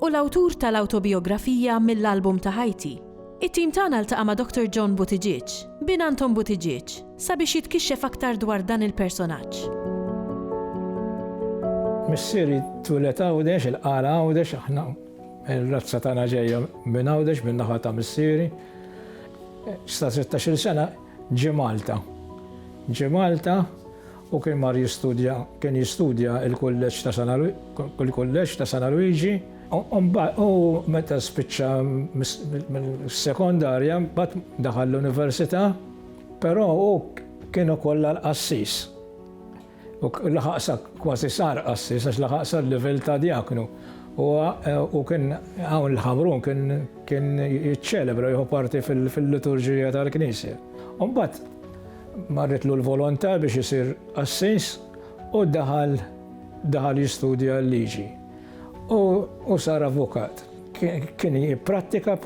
Hu l-awtur tal-awtobijografija mill-album ta' ħajti. It-tim tagħna ltaqa' ma' Doctor John Buttigieg, bin Anton Buttigieg, sabiex jitkixxef aktar dwar dan il-personaġġ. Missieri twieled Għawdex, il-Qara Għawdex, aħna r-razza tagħna ġejja minn Għawdex min-naħa ta' missieri. Sa sittax-il sena ġie Malta. Ġie Malta Hu kien mar jistudja, kien jistudja l-kulleġġ ta' San, il-kulleġġ ta' San Aluiġi. U meta spiċċa mis-sekondarja mbagħad daħal l-università, però hu kien ukoll għal qassis. U laħaq sa kważi sar qassis għax laħaq sal-livell ta' djaknu. U kien hawn l-Ħamrun kien jiċċelebra, jieħu parti fil-liturġija tal-Knisja. U mbagħad, Marritlu l-volontà biex isir qassis u daħal daħal jistudja l-liġi u u sar avukat. Kien jipprattika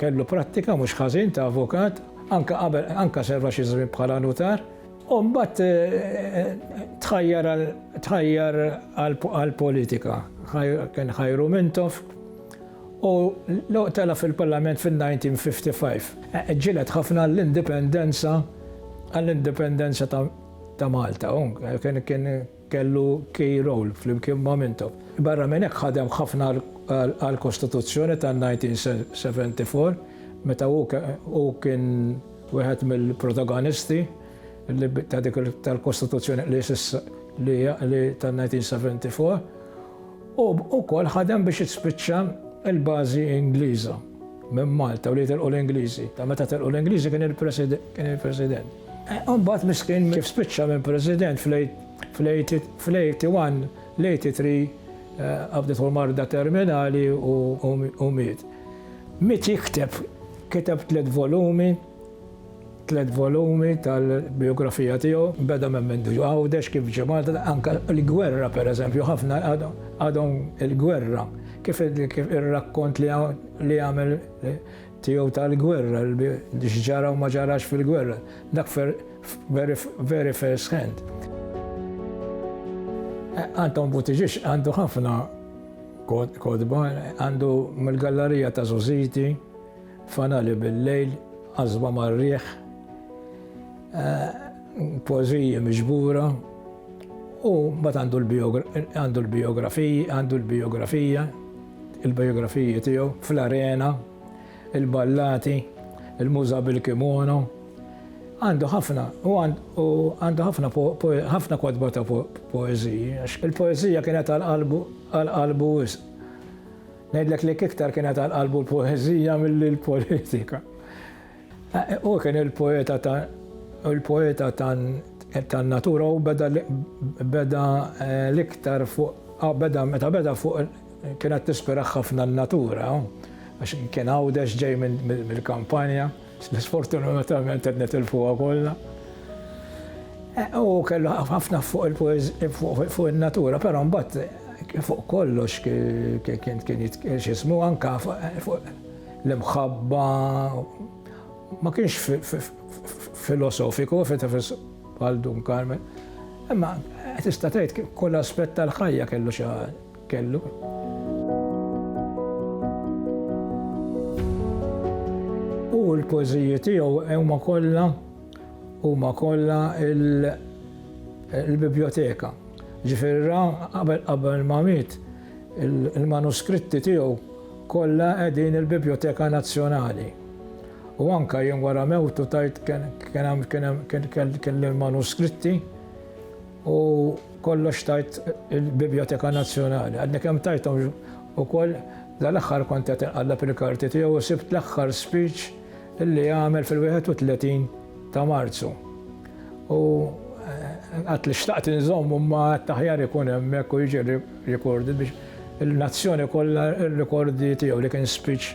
kellu prattika mhux ħażin ta' avukat anke qabel anke serva xi żmien bħala nutar u mbagħad tħajjar tħajjar għall-politika. Kien ħajru Mintoff Hu telaq fil-Parlament fin-1955. Ġġieled ħafna għall-indipendenza għall-indipendenza ta' Malta. Hu kien kellu key role flimkien ma' Mintoff. Barra minn hekk ħadem ħafna għall-Kostituzzjoni tan-1974 meta hu hu kien wieħed mill-protagonisti li ta' dik tal-Kostituzzjoni li s'issa li tan-1974. Hu wkoll ħadem biex tispiċċa l-bażi Ingliża minn Malta u li jitilqu l-Ingliżi. Ta' meta telqu l-Ingliżi kien il-President. Imbagħad miskin kif spiċċa minn President fl-81, l-83 qabdithu marda terminali u miet. Miet jikteb, kiteb tliet volumi, Tliet volumi tal-bijografija tiegħu, beda minn minn ġie Għawdex, kif ġie Malta, anke l-gwerra pereżempju, ħafna għadhom il-gwerra, kif ir-rakkont li għamel tiegħu tal-gwerra, x'ġara u ma ġarax fil-gwerra, dak very first hand. Anton Buttiġieġ għandu ħafna kotba, għandu mill-gallarija ta' Żożiti, Fanali bil-lejl, għażba mar-riħ, poeżiji miġbura u mbagħad għandu l-bijografiji, għandu l-bijografija, il-bijografiji tiegħu fl-arena, il-ballati, il-muża bil-kimono. Għandu ħafna u għandu ħafna ħafna kotba ta' poeżiji għax il-poeżija kienet għal qalbu wisq. Ngħidlek li iktar kienet għal qalbu l-poeżija milli l-politika. Hu kien il-poeta ta' il-poeta tan-natura u beda beda eh, l-iktar fuq ah, beda meta beda fuq kienet tispira ħafna n-natura għax kien għawdex ġej mill-kampanja. Sfortunatament qed nitilfuha kollha. U kellu ħafna fuq il-poeżija fuq in-natura, però mbagħad fuq kollox kien kien x'ismu anka fuq l-imħabba ma kienx filosofiku bħal Dun Carmen. Imma tista' tgħid kull aspett tal-ħajja kellu xi kellu. U l-poeżiji tiegħu huma kollha huma kollha il-biblioteka. Ġifieri ra qabel qabel ma miet il-manuskritti tiegħu kollha qegħdin il-Biblioteka Nazzjonali. U anka jien wara mewtu tajt kien hemm kien hemm kien kien kien l-manuskritti U kollox tajt il-Bibjoteka Nazzjonali. Għadni kemm tajthom ukoll dal-aħħar kont qed inqallab il-karti tiegħu u sibt l-aħħar speech li għamel fil-31 ta' Marzu. U għad li xtaqt inżommu ma għad taħjar ikun hemmhekk u jiġi recorded biex il-nazzjoni kollha rikordi tiegħu li kien speech